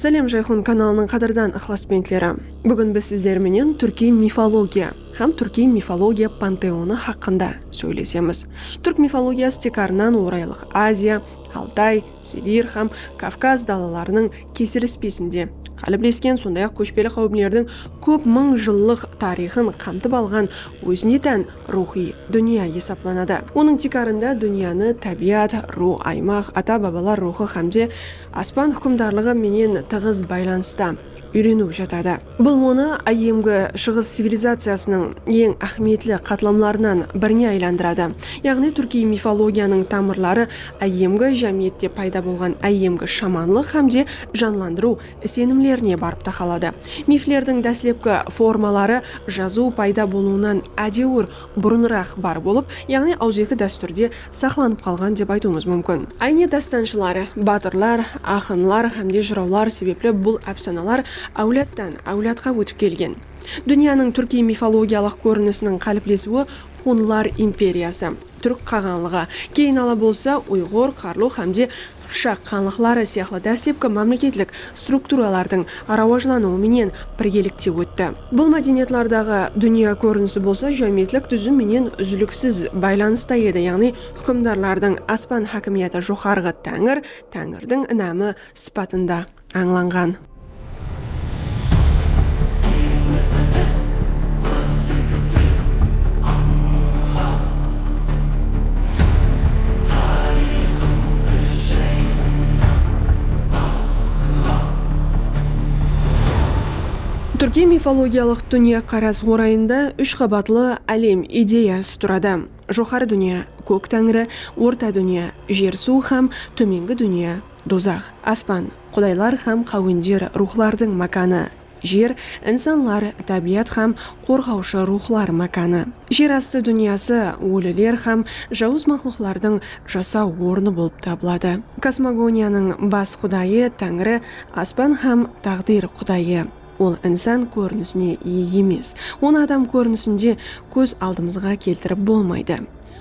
Sálem Jayxun kanalınıń qádirdan ıqlasbentleri! Búgin biz sizler menen túrkiy mifologiya hám túrkiy mifologiya panteonı haqqında sóylesemiz. Túrk mifologiyası tiykarınan Oraylıq Aziya, Altay, Sibir hám Kavkaz dalalarınıń kesilispesinde qáliplesken, sonday-aq kóshpeli qáwimlerdiń kóp mıń jıllıq tariyxın qamtıp alǵan ózine tán ruwxıy dúnya esaplanadı. Onıń tiykarında dúnyanı tábiyat, ruw, aymaq, ata-babalar ruwxı hámde. Aspan húkimdarlıǵı menen tıǵız baylanısta úyreniw jatadı. Bul onı Áyyemgi Shıǵıs civilizaciyasınıń eń áhmiyetli qatlamlarınan birine aylandıradı, yaǵnıy túrkiy mifologiyanıń tamırları áyyemgi jámiyette payda bolǵan áyyemgi shamanlıq hám de janlandırıw isenimlerine barıp taqaladı. Miflerdiń dáslepki formaları jazıw payda bolıwınan ádewir burınıraq bar bolıp, yaǵnıy awızeki dástúrde saqlanıp qalǵan dep aytıwımız múmkin. Áyne dástanshılar, batırlar, aqınlar hámde jırawlar sebepli bul ápsanalar áwladtan, áwladqa ótip kelgen. Dúnyanıń túrkiy mifologiyalıq kórinisiniń qáliplesiwi Xunlar imperiyası, Túrk qaǵanlıǵı, keyin ala bolsa Uyǵur, Qarlu hámde qıpshaq xanlıqları sıyaqlı dáslepki mámleketlik strukturalardıń rawajlanıwı menen birgelikte ótti. Bul mádeniyatlardaǵı dúnya kórinisi bolsa jámiyetlik dúzim menen úziliksiz baylanısta edi, yaǵnıy húkimdarlardıń aspan hákimiyatı joqarǵı táńir, táńirdiń inamı, sıpatında. ańlanǵan. Túrkiy mifologiyalıq dúnyaqaras orayında úsh qabatlı álem ideyası turadı, joqarı dúnya, kók táńri, orta dúnya, jer-suw hám tómengi dúnya. Dozax, aspan, qudaylar hám qáwender, ruwxlardıń mákanı, jer, insanlar, tábiyat hám qorǵawshı ruwxlar mákanı, jer astı dúnyası, óliler hám jawız maqluqlardıń jasaw ornı bolıp tabıladı. Kosmogoniyanıń bas qudayı, táńri, aspan hám táǵdir qudayı. Ol insan kórinisine iye emes. Onı adam kórinisinde kóz aldımızǵa keltirip bolmaydı.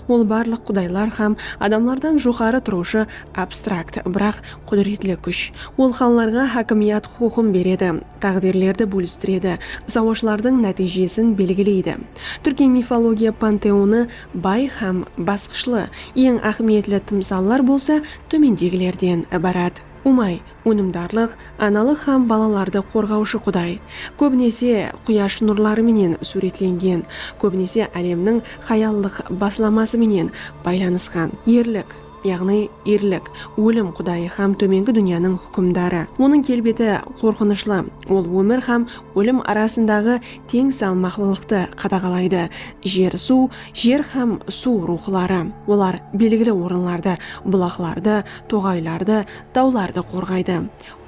Ol barlıq qudaylar hám adamlardan joqarı turıwshı abstrakt, biraq qúdiretli kúsh. Ol xanlarǵa hákimiyat huqıqın beredi, táǵdirlerdi bólistiredi, sawashlardıń nátiyjesin belgileydi. Túrkiy mifologiya panteonı bay hám basqıshlı, eń áhmiyetli tımsallar bolsa tómendegilerden ibarat. Umay, ónimdarlıq, analıq hám balalardı qorǵawshı quday. Kóbinese, quyash nurları menen súwretlengen, kóbinese álemniń hayallıq baslaması menen baylanısqan. Erlik, yaǵnıy erlik, ólim qudayı hám tómengi dúnyanıń húkimdarı. Onıń kelbeti qorqınıshlı, ol ómir hám ólim arasındaǵı teń salmaqlılıqtı qadaǵalaydı, jer-suw, jer hám suw ruwxıları, olar belgili orınlardı, bulaqlardı, Toǵaylardı, tawlardı qorǵaydı.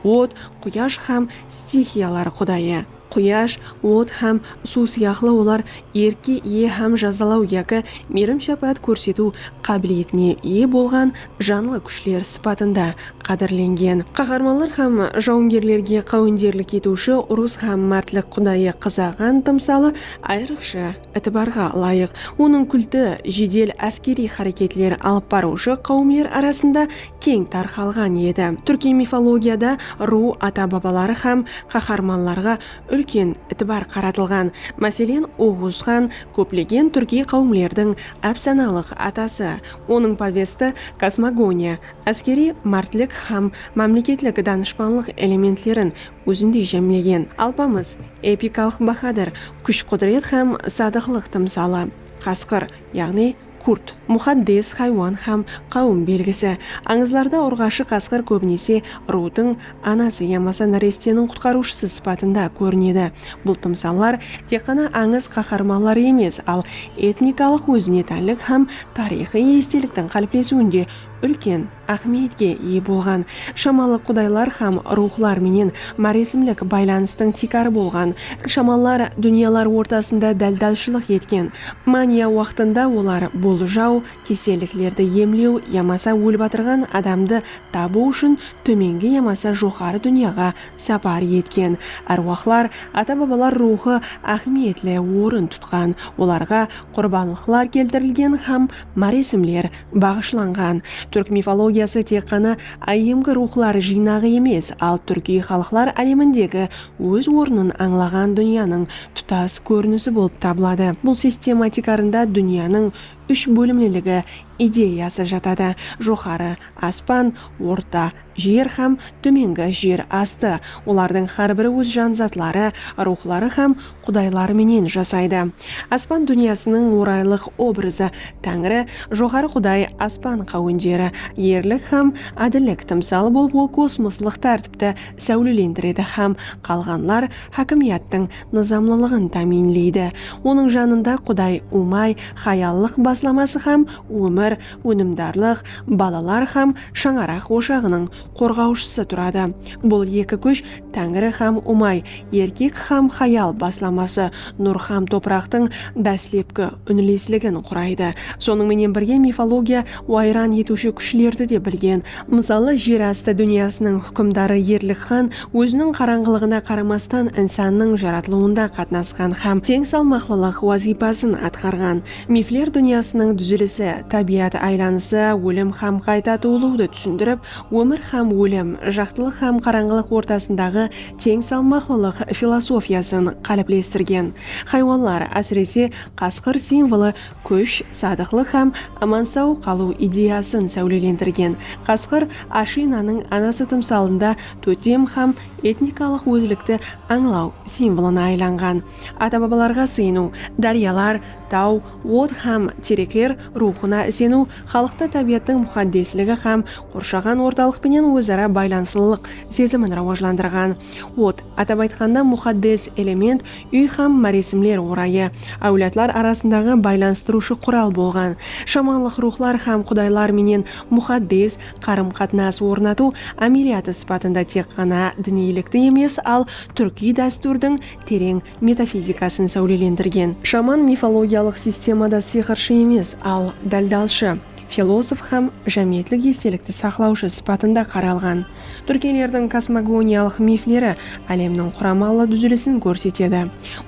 Ot, quyash hám stixiyalar qudayı. Quyash, ot hám suw sıyaqlı olar erkke iye hám jazalaw yaki miyrim-shápáát kórsetiw qábiliyetine iye bolǵan janlı kúshler sıpatında qádirlengen. Qaharmanlar hám jawıngerlerge qáwenderlik etiwshi urıs hám mártlik qudayı Qızaǵan tımsalı ayrıqsha Itibarǵa ılayıq, onıń kulti jedel áskeriy háreketler alıp barıwshı qáwimler arasında keń tarqalǵan edi. Túrkiy mifologiyada ruw ata-babaları hám qaharmanlarǵa úlken itibar qaratılǵan. Máselen, Oǵuz xan, kóplegen túrkiy qáwimlerdiń ápsanalıq atası. Onıń povesti kosmogoniya, áskeriy mártlik hám mámleketlik danıshpanlıq elementlerin Ózinde jámlegen Alpamıs epikalıq bahadır, kúsh-qúdiret hám sadıqlıq tımsalı, qasqır, yaǵnıy kurt, muxaddes haywan hám qáwim belgisi. Ańızlarda urǵashı qasqır kóbinese ruwtıń anası yamasa náresteniń qutqarıwshısı sıpatında kórinedi. Bul tımsallar tek ǵana ańız qaharmanları emes, al etnikalıq ózine tánlik hám tariyxıy esteliktiń qáliplesiwinde úlken áhmiyetke iye bolǵan shamalıq qudaylar hám ruwxlar menen máresimlik baylanıstıń tiykarı bolǵan shamallar dúnyalar ortasında dáldáshılıq etken mániya waqtında olar boljaw, keselliklerdi emlew yamasa ólip atırǵan adamdı tabıw ushın tómengi yamasa joqarı dúnyaǵa sapar etken árwahlar, ata-babalar ruwxı áhmiyetli orın tutqan, olarǵa qurbanlıqlar keltirilgen hám máresimler baǵıshlanǵan Túrk mifologiyası tek ǵana áyyemgi ruwxlar jıynaǵı emes, al túrkiy xalıqlar álemindegi óz ornın ańlaǵan dúnyanıń tutas kórinisi bolıp tabıladı. Bul sistema tiykarında dúnyanıń úsh bólimliligi ideyası jatadı, joqarı, aspan, orta, Jer hám tómengi jer astı, olardıń hár bir óz jan zatları, ruwxları hám qudayları menen jasaydı. Aspan dúnyasınıń oraylıq obrazı, Táńri, Joqarı Quday, aspan qáwenderi, erlik hám ádillik tımsalı bolıp ol kosmoslıq tártipti sáwlelendiredi hám qalǵanlar hákimiyattıń nızamlılıǵın támiyinleydi. Onıń janında Quday Umay hayallıq baslaması hám ómir, Únimdarlıq, balalar hám shańaraq oshaǵınıń qorǵawshısı turadı. Bul eki kúsh, Táńiri hám Umay, erkek hám hayal baslaması, nur hám topıraqtıń dáslepki únilesligin quraydı. Sonıń menen birge mifologiya wayran etiwshi kúshlerdi de bilgen. Mısalı, jer astı dúnyasınıń húkimdarı Erlik xan óziniń qarańǵılıǵına qaramastan insannıń jaratılıwında qatnasqan hám teń salmaqlılıq wazıypasın atqarǵan. Mifler dúnyasınıń dúzilisi, tábiyat aylanısı, ólim hám qayta tuwılıwdı túsindirip, ómir hám ólim, jaqtılıq hám qarańǵılıq ortasındaǵı teń salmaqlılıq filosofiyasın qáliplestirgen. Haywanlar, ásirese, qasqır simvolı kúsh, sadıqlıq hám aman-saw qalıw ideyasın sáwlelendirgen. Qasqır Ashinanıń anası tımsalında totem hám etnikalıq ózlikti ańlaw simvolına aylanǵan. ata-babalarǵa sıyınıw, dáryalar, taw, ot hám terekler ruwxına iseniw xalıqta tábiyattıń muxaddesligi hám qorshaǵan ortalıq penen óz-ara baylanıslılıq sezimin rawajlandırǵan. Ot, atap aytqanda, muxaddes element, úy hám máresimler orayı, áwladlar arasındaǵı baylanıstırıwshı qural bolǵan. Shamanlıq ruwxlar hám qudaylar menen muxaddes qarım-qatnas ornatıw ámeliyatı sıpatında tek ǵana diniylikti emes, al túrkiy dástúrdiń tereń metafizikasın sáwlelendirgen. Shaman mifologiyalıq sistemada sıyqırshı emes, al, dáldalshı, filozof hám jámiyetlik estelikti saqlawshı sıpatında qaralǵan. Túrkiylerdiń kosmogoniyalıq mifleri álemniń quramalı dúzilisin kórsetedi.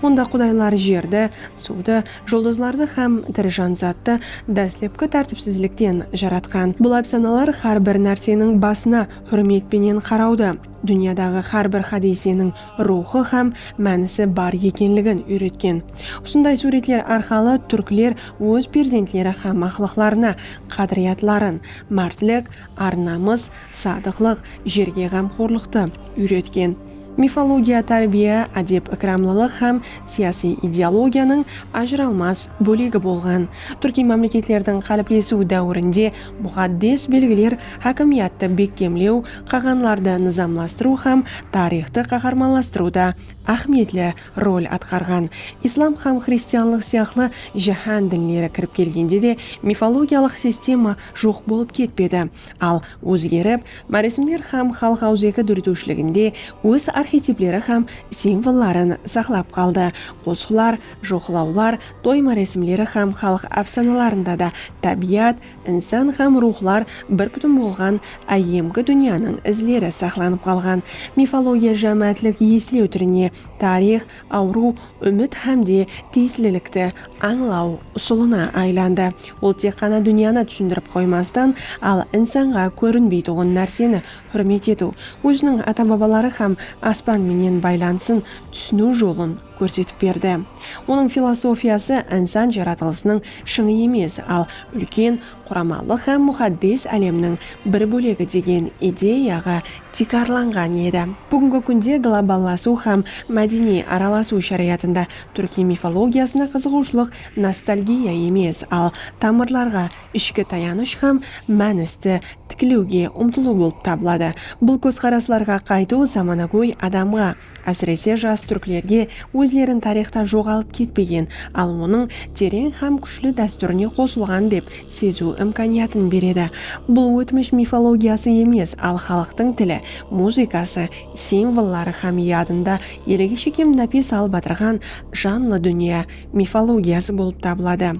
Onda qudaylar jerdi, suwdı, juldızlardı hám tiri janzattı dáslepki tártipsizlikten jaratqan. Bul ápsanalar hár bir nárseniń basına húrmet penen qarawdı, dúnyadaǵı hár bir hádiyseniń ruwxı hám mánisi bar ekenligin úyretken. Usınday súwretler arqalı túrkler óz perzentleri hám maqlıqlarına qádiriyatların, mártlik, ar-namıs, sadıqlıq, jerge ǵamxorlıqtı, úyretken. Mifologiya tárbiya, ádep-ikramlılıq hám siyasiy ideologiyanıń ajıralmas bólegi bolǵan. Túrkiy mámleketlerdiń qáliplesiw dáwirinde muǵaddes belgiler hákimiyattı bekkemlew, qaǵanlardı nızamlastırıw hám tariyxtı qaharmanlastırıwda áhmiyetli rol atqarǵan. Islam hám xristianlıq sıyaqlı jáhán dinleri kirip kelgende de mifologiyalıq sistema joq bolıp ketpedi, al ózgerip, máresimler hám xalıq awızeki dóretiwshiliginde óz arxetipleri hám simvolların saqlap qaldı. Qosıqlar, joqlawlar, toy máresimleri hám xalıq ápsanalarında da tábiyat, Insan hám ruwxlar bir pútin bolǵan áyyemgi dúnyanıń izleri saqlanıp qalǵan mifologiya jámáátlik eslew túrine, tariyx, awırıw, úmit hám de tiyislilikti ańlaw usılına aylandı. Ol tek ǵana dúnyanı túsindirip qoymastan, al insanǵa kórinbeytuǵın nárseni húrmet etiw, óziniń ata-babaları hám aspan menen baylanısın túsiniw jolın, kórsetip berdi. Onıń filosofiyası insan jaratılısınıń shıńı emes, al úlken quramalıq hám muxaddes álemniń bir bólegi degen ideyaǵa tiykarlanǵan edi. Búgingi kúnde globallasıw hám mádeniy aralasıw sharayatında túrkiy mifologiyasına qızıǵıwshılıq nostalgiya emes, al tamırlarǵa, ishki tayanısh hám mánisti tiklewge umtılıw bolıp tabıladı. Bul kózqaraslarǵa qaytıw zamanagóy adamǵa, Ásirese jas túrklerge ózlerin tariyxtan joǵalıp ketpegen, al onıń tereń hám kúshli dástúrine qosılǵan dep seziw imkaniyatın beredi. Bul ótmish mifologiyası emes, al xalıqtıń tili, muzıkası, simvolları hám yadında elege shekem nápes alıp atırǵan janlı dúnya mifologiyası bolıp tabıladı.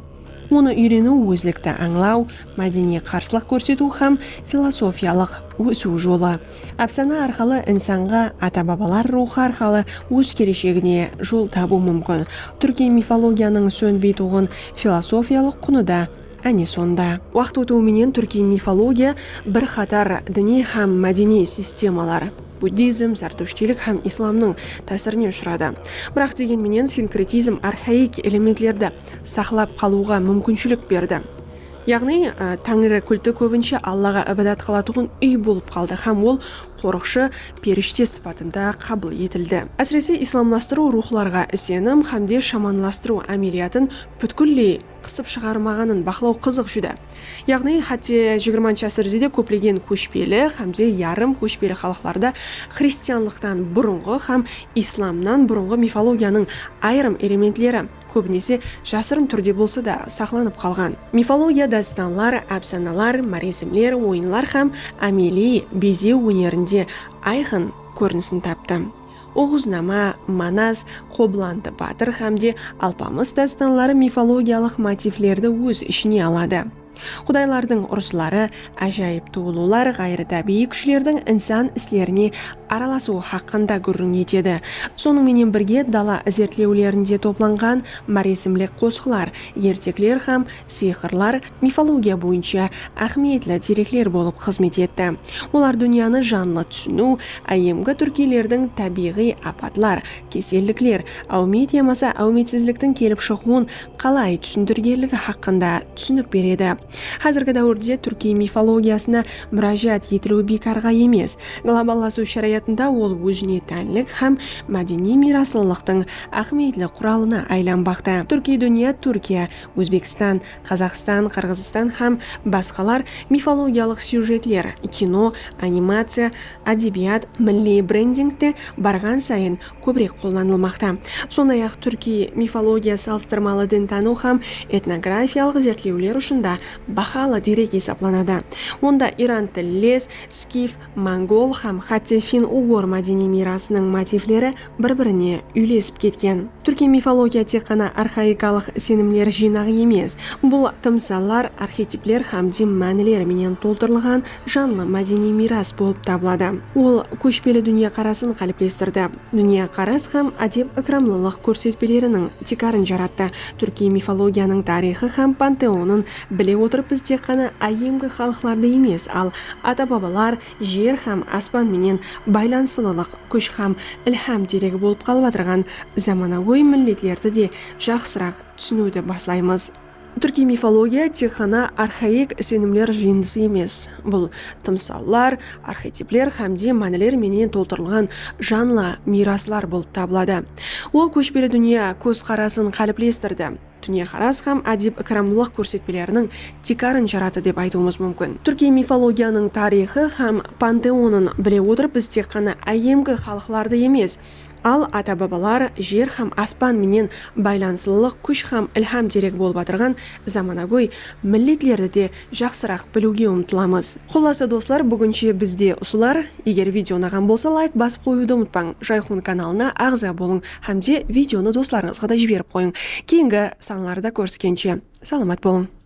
Onı úyreniw ózlikti ańlaw, mádeniy qarıslıq kórsetiw hám filosofiyalıq ósiw jolı. Ápsana arqalı insanǵa ata-babalar ruwxı arqalı óz keleshegine jol tabıw múmkin. Túrkiy mifologiyanıń sónbeytuǵın filosofiyalıq qunı da áne sonda. Waqıt ótiw menen túrkiy mifologiya bir qatar diniy hám mádeniy sistemalar, buddizm, zártushtiylik hám islamnıń, tásirine ushıradı. Biraq degen menen sinkretizm arxaik elementlerdi saqlap qalıwǵa múmkinshilik berdi. Yaǵnıy, Táńiri kulti kóbinshe Allaǵa ibadat qılatuǵın úy bolıp qaldı hám ol qorıqshı, perishte sıpatında qabıl etildi. Ásirese, islamlastırıw ruwxlarǵa isenim hám de shamanlastırıw ámeliyatın pútkilley qısıp shıǵarmaǵanın baqlaw qızıq júdá. Yaǵnıy, hátte xxi ásirde de kóplegen kóshpeli hám de yarım kóshpeli xalıqlarda xristianlıqtan burınǵı hám islamnan burınǵı mifologiyanıń ayırım elementleri, kóbinese jasırın túrde bolsa da, saqlanıp qalǵan. Mifologiya dástanlar, ápsanalar, márezimler, oyınlar hám ámeliy bezew ónerinde ayqın kórinisin taptı. Oǵuznama, Manas, Qoblantı batır hám de Alpamıs dástanları mifologiyalıq motivlerdi óz ishine aladı. Qudaylardıń urısları, ájayıp tuwılıwlar, ǵayırı tábiyiy kúshlerdiń insan islerine aralasıwı haqqında gúrriń etedi. Sonıń menen birge, dala izertlewlerinde toplanǵan máresimlik qosıqlar, ertekler hám sıyqırlar mifologiya boyınsha áhmiyetli derekler bolıp xızmet etti. Olar dúnyanı janlı túsiniw, áyyemgi túrkiylerdiń tábiyǵıy apatlar, Kesellikler áwmiyet yamasa áwmiyetsizliktiń kelip shıǵıwın qalay túsindirgenligi haqqında túsinik beredi. Házirgi dáwirde túrkiy mifologiyasına múrájat etiliwi biykarǵa emes. Globallasıw sharayatında ol ózine tánlik hám mádeniy miyraslılıqtıń áhmiyetli quralına aylanbaqta. Túrkiy dúnya Túrkiya, Ózbekstan, Qazaqstan, Qırǵızstan hám basqalar mifologiyalıq syujetler, kino, animaciya, ádebiyat, milliy brendingte barǵan sayın kóbirek qollanılmaqta. Sonday-aq, túrkiy mifologiya salıstırmalı dintanıw hám etnografiyalıq izertlewler ushın da bahalı derek esaplanadı. Onda iran tilles, skif, Mongol hám hátte fin-ugur mádeniy miyrasınıń motivleri bir-birine úylesip ketken. Túrkiy mifologiya tek ǵana arxaikalıq isenimler jıynaǵı emes, bul tımsallar, arxetipler hám din mánileri menen toltırılǵan janlı mádeniy miyras bolıp tabıladı. Ol kóshpeli dúnyakarasın qáliplestirdi, dúnyakaras hám ádep-ikramlılıq kórsetpeleriniń tiykarın jarattı, túrkiy mifologiyanıń tariyxı hám panteonın Bile otırıp biz tek ǵana áyyemgi xalıqlardı emes, al ata-babalar, jer hám aspan menen baylanıslılıq kúsh hám ilham deregi bolıp qalıp atırǵan zamanagóy milletlerdi de jaqsıraq túsiniwdi baslaymız. Túrkiy mifologiya tek ǵana arxaik isenimler jıyındısı emes, bul tımsallar, arxetipler hám de mániler menen toltırılǵan janlı miyraslar bolıp tabıladı. Ol kóshpeli dúnya kóz-qarasın qáliplestirdi. dúnyaqaras hám ádep-ikramlılıq kórsetpeleriniń tiykarın jarattı dep aytıwımız múmkin. Túrkiy mifologiyanıń tariyxı hám panteonın bile otırıp biz tek ǵana áyyemgi xalıqlardı emes, al ata-babalar, jer hám aspan menen baylanıslılıq kúsh hám ilham deregi bolıp atırǵan zamanagóy milletlerdi de jaqsıraq biliwge umtılamız. Qullası doslar búginshe bizde usılar, eger video unaǵan bolsa layk basıp qoyıwdı umıtpań, Jayxun kanalına aǵza bolıń hámde videonı doslarıńızǵa da jiberip qoyıń. Keyingi sanlarda kóriskenshe salamat bolıń.